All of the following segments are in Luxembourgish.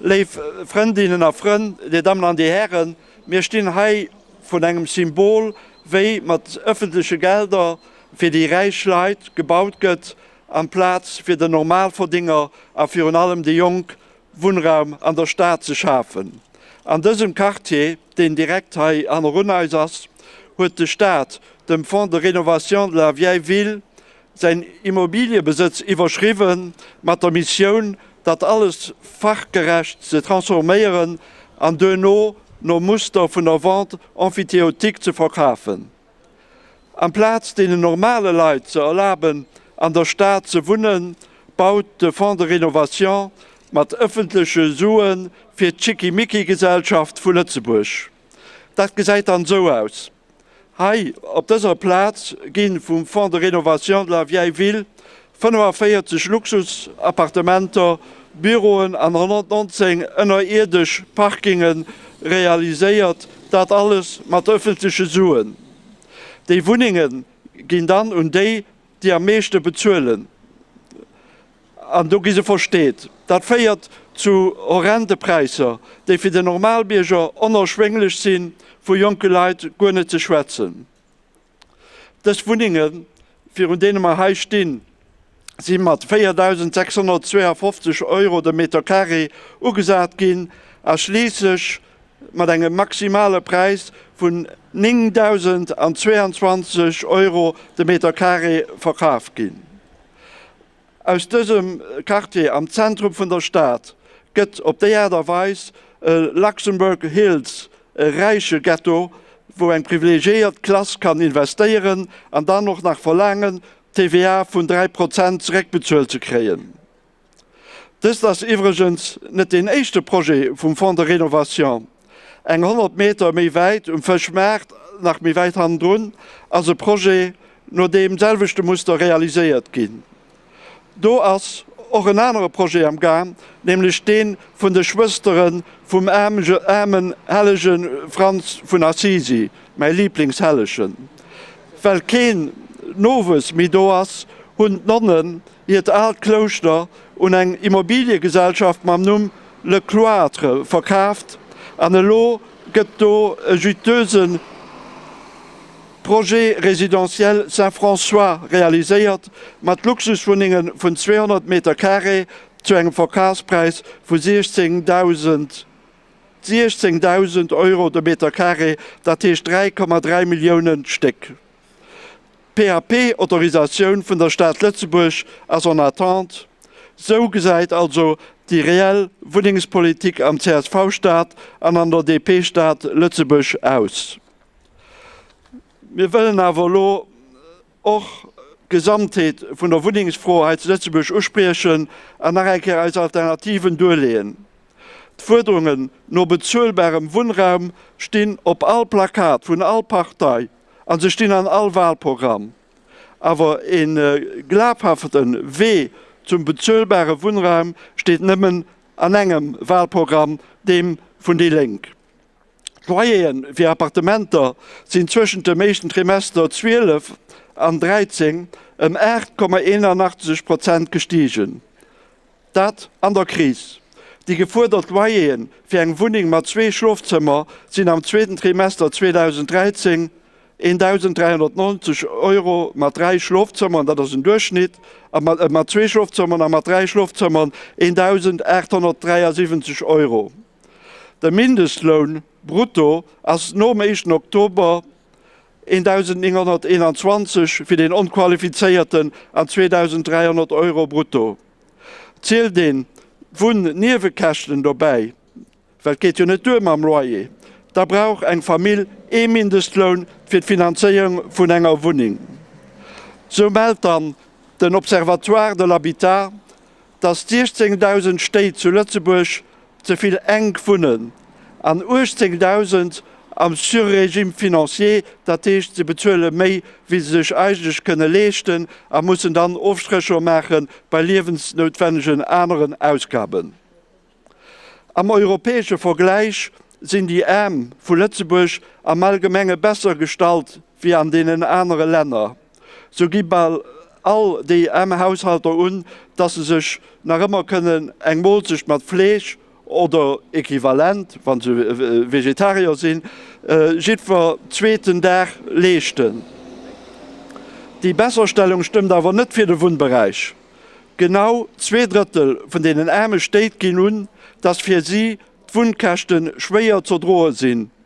Léif Frëndinnen a Frënn, Dir Dammen an Dir Hären, mir stinn hei vrun engem Symbol, wéi mat ëffentleche Gelder fir déi räich Leit gebaut gëtt amplaz fir den Normalverdinger a virun allem déi Jonk Wunnraum an der Stad ze schafen. An dësem Quartier, deen direkt hei hannerun eis ass, huet de Staat dem Fonds de rénovation de la vieille ville säin Immobiliëbesëtz iwwerschriwwe mat der Missioun, dat alles fachgerecht ze transforméieren an duerno nom Muster vun der Vente emphytéotique ze verkafen. Amplaz deenen normale Leit ze erlaben, an der Stad ze wunnen, baut de Fonds de rénovation mat ëffentleche Sue fir d'Schickimicki-Gesellschaft vu Lëtzebuerg. Dat gesäit dann esou aus, Hei op dëser Plaz gi vum Fonds de rénovation de la vieille ville 45 Luxusappartementer, Büroen an 119 ënnerierdesch Parkinge realiséiert, dat alles mat ëffentleche Suen. Déi Wunnenge ginn dann un déi, déi am meeschte bezuelen, an do gi se versteet. Dat féiert zu horrende Präisser, déi fir den Normalbierger onerschwénglech sinn, vu jonke Leit guer net ze schwätzen. Dës Wunnengen, virun deene mer hei stinn, si mat 4.652 Euro de Meter carré ugesat ginn a schliisslech mat engem maximale Präis vun 9.022 Euro de Meter carré verkaf ginn. Aus dësem Quartier am Zentrum vun der Stad gëtt op déi Aart a Weis e Luxembourg Hills, e räiche Ghetto, wou eng privilegiéiert Klass kann investéieren an dann och nach verlaangen, d'TVA vun 3 Prozent zeréckbezuelt ze kréien. Dëst ass iwwregens net deen éischte Projet vum Fonds de rénovation. Eng 100 Meter méi wäit, um Fëschmaart, nach méi wäit hannendrun, ass e Projet no deem selwechte Muster realiséiert ginn. Do ass och en anere Projet am Gaang, nämlech dee vun de Schwëstere vum aarmen hellege Franz vun Assisi, mäi Liblingshellegen. Well keen Nowuess méi do ass, hunn d'Nonnen hiert aalt Klouschter un eng Immobiliegesellschaft mam Numm Le Cloître verkaaft an elo gëtt do e juteuxë Projet résidentiel Saint-François realiséiert mat Luxuswunnenge vun 200 Meter Carré zu engem Verkafspräis vu 16.000 16.000 Euro de Meter Carré, dat heescht 3,3 Milliounen d'Stéck. D'PAP-Autorisatioun vun der Stad Lëtzebuerg ass en attente. Esou gesäit also déi reell Wunnengspolitik am CSV-Staat an an der DP-Stad Lëtzebuerg aus. Mir wëllen awer elo och d'Gesamtheet vun der Wunnengsfro hei zu Lëtzebuerg uspriechen an nach eng Kéier eis Alternativen duerleeën. D'Fuerderungen no bezuelbarem Wunnraum stinn op all Plakat vun all Partei. a se stinn an all Wahlprogramm, awer e glafhafte Wee zum bezuelbare Wunnraum steet nëmmen an engem Wahlprogramm, deem vun déi Lénk. D'Loyere fir Appartementer sinn zwëschent dem éischten Trimester 12 an 13 ëm 8,81 Prozent gestigen. Dat an der Kris. Déi gefuerdert Loyeren fir eng Wunneng mat zwee Schlofzëmmer sinn am zweeten Trimester 2013 1.390 Euro mat dräi Schlofzëmmeren, dat ass en Duerchschnitt, a mat zwee Schlofzëmmeren a mat dräi Schlofzëmmeren 1.873 Euro. De Mindestloun brutto ass nom éischten Oktober 1.921 fir den Onqualifizéierten an 2.300 Euro brutto. zielt een d'Wunn-Niewekäschten dobäi, well et geet jo net duer mam Loyer, da brauch eng Famill ee Mindestloun fir d'Finanzéierung vun enger Wunneng. Sou mellt dann den Observatoire de l'habitat, datt 16.000 Stéit zu Lëtzebuerg Ze vill enk wunnen an 18.000 am Surrégime financier, dat heescht se bezuele méi wéi se sech eigentlech kënne leeschten a mussen dann Ofstrécher maache bei liewensnoutwennegen aneren Ausgaben. Am europäesche Vergläich sinn déi Aarm vu Lëtzebuerg am Allgemenge besser gestallt wéi an deenen anere Länner. Sou gi bal all DM-Haushalter un, dass se sech nach ëmmer kënnen eng Moolzecht mat Fleesch oder Equivalent, wann se Vegetarier sinn, jiddwer zweeten Dag leeschten. Déi Besserstellung stëmmt awer net fir de Wunnberäich. Genau zwee Drëttel vun deenen aarme Stéit ginn un, dass fir si d'Wunnkäschte schwéier z'erdroe sinn.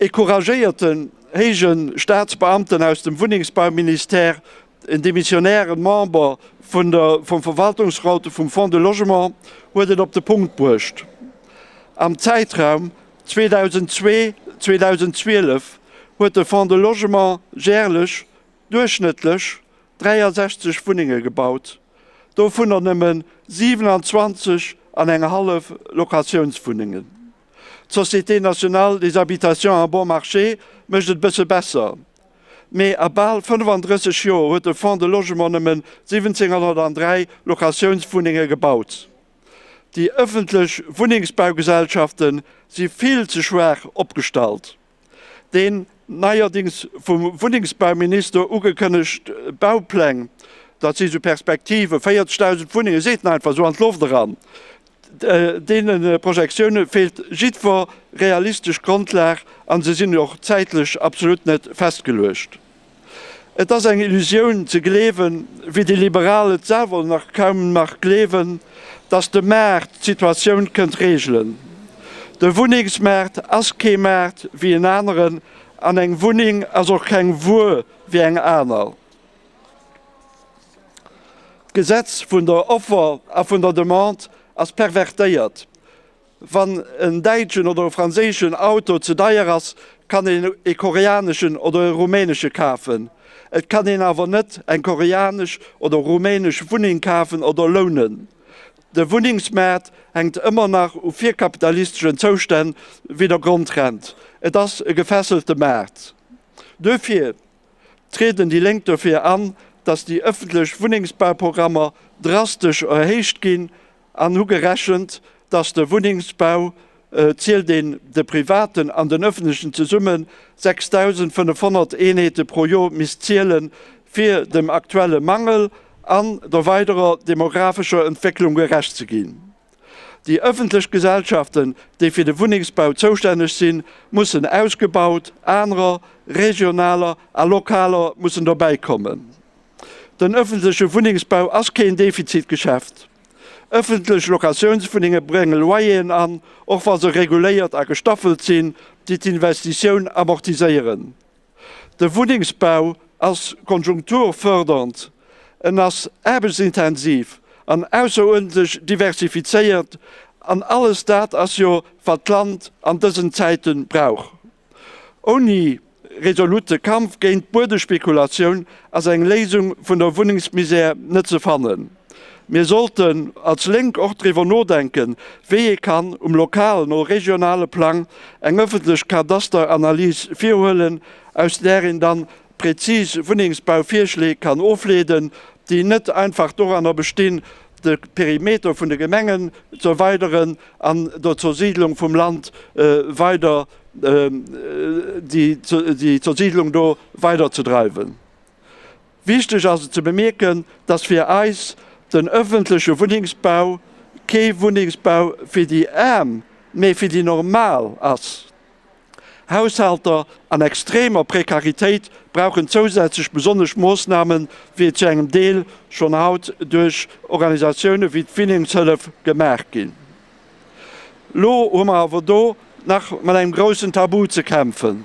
Ee couragéierten héije Staatsbeamten aus dem Wunnengsbauministère, en demissionäre Member vun der vum Verwaltungsraute vum Fonds de Logement huet et op de Punkt bruecht, Am Zäitraum 2002-2012 huet de Fonds de Logement järlech duerchschnëttlech 63 Wunnenge gebaut, dovunner nëmmen 27 an eng hallef Locatiounswunnengen. D'Société nationale des habitations à bon marché mécht et e bësse besser, mee a bal 35 Joer huet de Fonds de Logement nëmmen 1.703 Locatiounswunnenge gebaut. Déi ëffentlech Wunnengsbaugesellschafte si vill ze schwaach opgestallt. Deen neierdings vum Wunnengsbauminister ugekënnegt Baupläng, dat si sou Perspektive, 40.000 Wunnenge seet en einfach sou an d'Loft eran. Deene Projektioune feelt jiddwer realistesch Grondlag a se sinn och zäitlech absolut net festgeluecht. Et ass eng Illusioun ze gleewen, wéi déi Liberal et selwer nach kaum nach gleewen, datt de Maart d'Situatioun kënnt reegelen. De Wunnengsmaart ass kee Maart wéi en aneren an eng Wunneng ass och keng Wuer wéi eng aner. D'Gesetz vun der Offer a vun der Demande ass pervertéiert. Wann en däitschen oder e franséischen Auto ze deier ass, kann een e koreaneschen oder e rumänesche kafen. Et kann een awer net eng koreanesch oder rumänesch Wunneng kafen oder lounen. De Wunnengsmaart hänkt ëmmer nach u virkapitalisteschen Zoustänn wéi der Grondrent. Et ass e gefesselte Maart. Duerfir trieden déi Lénk dofir an, datt déi ëffentlech Wunnengsbauprogrammer drastesch erhéicht ginn, an hu gerechent, dass de Wunnengsbau, zielt een de privaten an den öffentlechen zesummen, 6.500 Eenheete pro Jor misst ziele fir dem aktuelle Mangel an der weiderer demographescher Entwécklung gerecht ze ginn. Déi öffentlech Gesellschaften, déi fir de Wunnengsbau zoustänneg sinn, mussen ausgebaut, anerer, regionaler a lokaler, mussen dobäikommen. Den ëffentleche Wunnengsbau ass keen Defizitgeschäft. Ëffentlech Locatiounswunnenge brénge Loyeren an, och wa se reguléiert a gestaffelt sinn, déi d'Investitioun amortiséieren. De Wunnengsbau ass konjunkturfördernd, en ass aarbechtsintensiv an ausseruerdentlech diversifizéiert, an alles dat ass jo, wat d'Land an dësen Zäite brauch. Ouni resolute Kampf géint d'Buedespekulation ass eng Léisung vun der Wunnengsmisär net ze fannen. Mir sollten als Lénk och driwwer nodenken, wéi ee kann um lokalen oder regionale Plang eng öffentlech Kadasteranalys virhuelen, aus där een dann Präzis Wunnengsbauvirschléi kann ofleeden, déi net einfach doranner bestinn, de Perimeter vun de Gemengen z'erweideren an der Zersiidlung vum Land weider, déi Zersiidlung do weider ze dreiwen. Wichteg ass et ze bemierken, dass fir eis den öffentliche Wunnengsbau kee Wunnengsbau fir déi Aarm, mä fir déi Normal ass. Haushalter an extremer Prekaritéit brauchen zousätzlech besonnesch Moossnamen, wéi et zu engem Deel schonn haut duerch Organisatioune wéi d'Winningshëllef gemaach ginn. Elo hu mer awer do nach mat engem groussen Tabu ze kämpfen.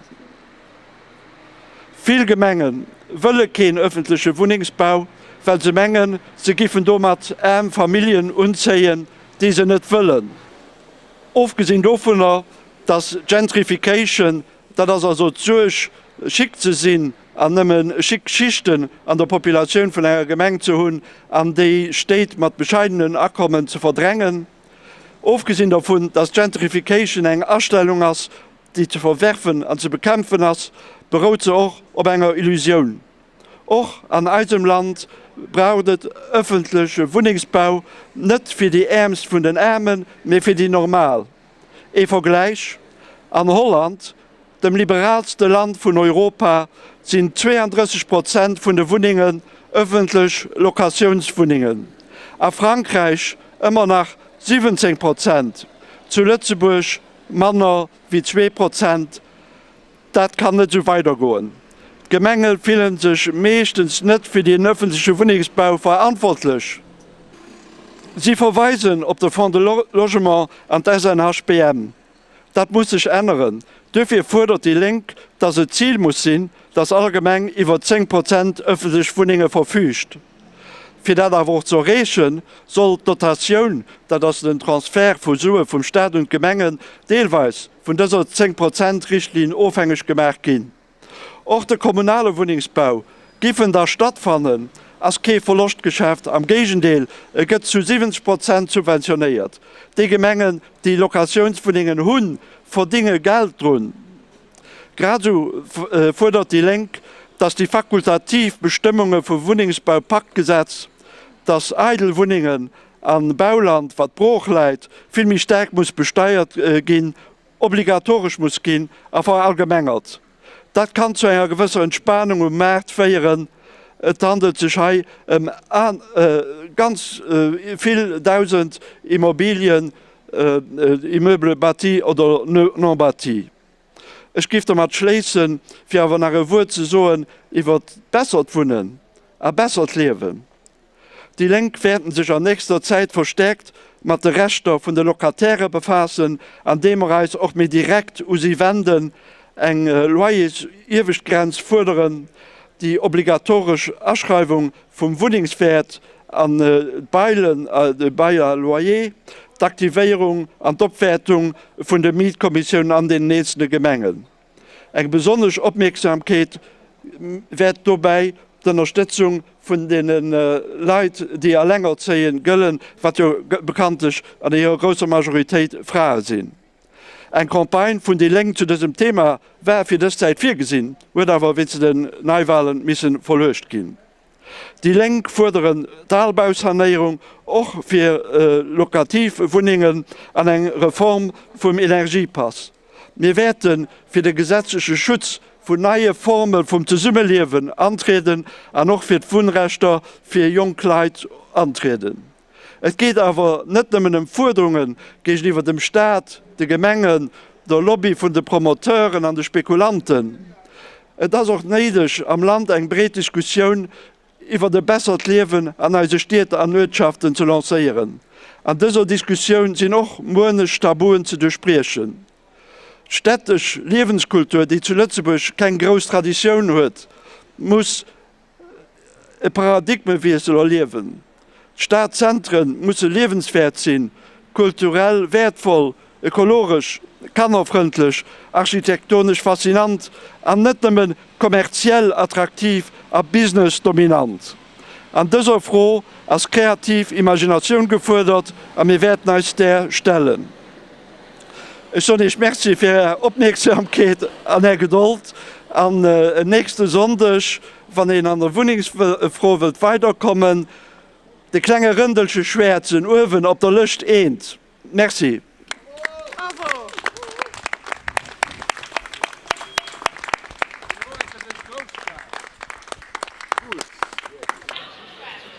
Vill Gemenge wëlle keen ëffentleche Wunnengsbau, well se mengen, se giffen domat aarm Familljen unzéien, déi se net wëllen. Ofgesinn dovunner Dass Gentrification, dat ass also d'Suerg, chic ze sinn an nëmme chic Schichten an der Populatioun vun enger Gemeng ze hunn an déi Stéit mat bescheidenen Akommen ze verdrängen. Ofgesinn dovun, dass Gentrification eng Astellung ass, déi ze verwerfen an ze bekämpfen ass, berout se och op enger Illusioun. Och an eisem Land braucht et öffentleche Wunnengsbau, net fir déi Äermst vun den Aarmen, mee fir déi Normal. Ee Vergläich, An Holland, dem liberaalste Land vun Europa, sinn 32 Prozent vun de Wunnengen ëffentlech Locatiounswunnengen, a Frankräich ëmmer nach 17 Prozent, zu Lëtzebuerg manner wéi zwee Prozent Dat kann net esou weidergoen. D'Gemenge fille sech meeschtens net fir den ëffentleche Wunnengsbau verantwortlech. Si verweisen op de Fonds de Logement an d'SNHBM. Dat muss sech änneren. Duerfir fuerdert déi Lénk, datt et d'Zil muss sinn, datt all Gemeng iwwer 10 Prozent ëffentlech Wunnenge verfüügt. Fir dat awer och ze erreeche soll d'Dotatioun, dat ass den Transfert vu Sue vum Staat un d'Gemengen, deelweis vun dëser Zéng-Prozent-Richtlinn ofhängeg gemaach ginn. Och de kommunale Wunnengsbau giff en da stattfannen, ass kee Verloschtgeschäft, am Géigendeel, e gëtt zu 70 Prozent subventionéiert. Déi Gemengen, déi Locatiounswunnengen hunn, verdinge Geld drun. Grad esou fuerdert déi Lénk, datt déi fakultativ Bestëmmunge vum Wunnengsbau-Paktgesetz, datt eidel Wunnengen a Bauland, wat brooch läit, vill méi staark muss besteiert ginn, obligatoresch muss ginn a verallgemengert. Dat kann zu enger gewësser Entspanung um Maart féieren. Et handelt sech hei ëm ganz vill Dausend Immobilien, Immeubles bâtis oder non bâtis. Ech géif dermat schléissen, fir awer nach e Wuert ze soen iwwert bessert Wunnen a bessert Liewen. Déi Lénk wäerten sech an nächster Zäit verstäerkt mat de Rechter vun de Locataire befaassen, andeem mer eis och méi direkt u si wenden, eng Loyersieweschtgrenz fuerderen, déi obligatoresch Aschreiwung vum Wunnengswäert an de Bail à loyer, d'Aktivéierung an d'Opwäertung vun de Mietkommissiounen an den eenzele Gemengen. Eng besonnesch Opmierksamkeet wäert dobäi d'Ënnerstëtzung vun deene Leit, déi elengerzéie gëllen, wat jo bekanntlech an hirer grousser Majoritéit Frae sinn. Eng Campagne vun déi Lénk zu dësem Thema war fir dës Zäit virgesinn, huet awer wéinst den Neiwalen misse verluecht ginn. Déi Lénk fuerderen d'Albaussanéierung och fir locativ Wunnengen an eng Reform vum Energiepass. Mir wäerte fir de gesetzleche Schutz vun neie Forme vum Zesummeliewen antrieden an och fir d'Wunnrechter fir jonk Leit antrieden. Et geet awer net nëmmen ëm Fuerderunge géigeniwwer dem Staat, de Gemengen, der Lobby vun de Promoteuren an de Spekulanten. Et ass och néideg, am Land eng breet Diskussioun iwwert e bessert Liewen an eise Stied an Uertschaften ze lancéieren. An dëser Diskussioun sinn och muenech Tabuen ze duerchbriechen. D'städtesch Liewenskultur, déi zu Lëtzebuerg keng grouss Traditioun huet, muss. e Paradigmewiessel erliewen. D'Stadzentre musse liewenswäert sinn, kulturell wäertvoll, ökologesch, kannerfrëndlech, architektonesch faszinant an net nëmme kommerziell attraktiv a businessdominant. An dëser Fro ass kreativ Imaginatioun gefuerdert a mir wäerten eis där stellen. Ech soen Iech Merci fir Är Opmierksamkeet an Är Gedold an en nächste Sonndeg, wann een an der Wunnengsfro wëllt weiderkommen, de klenge Rëndelche schwäerzen uewen op der Lëscht eent. Merci.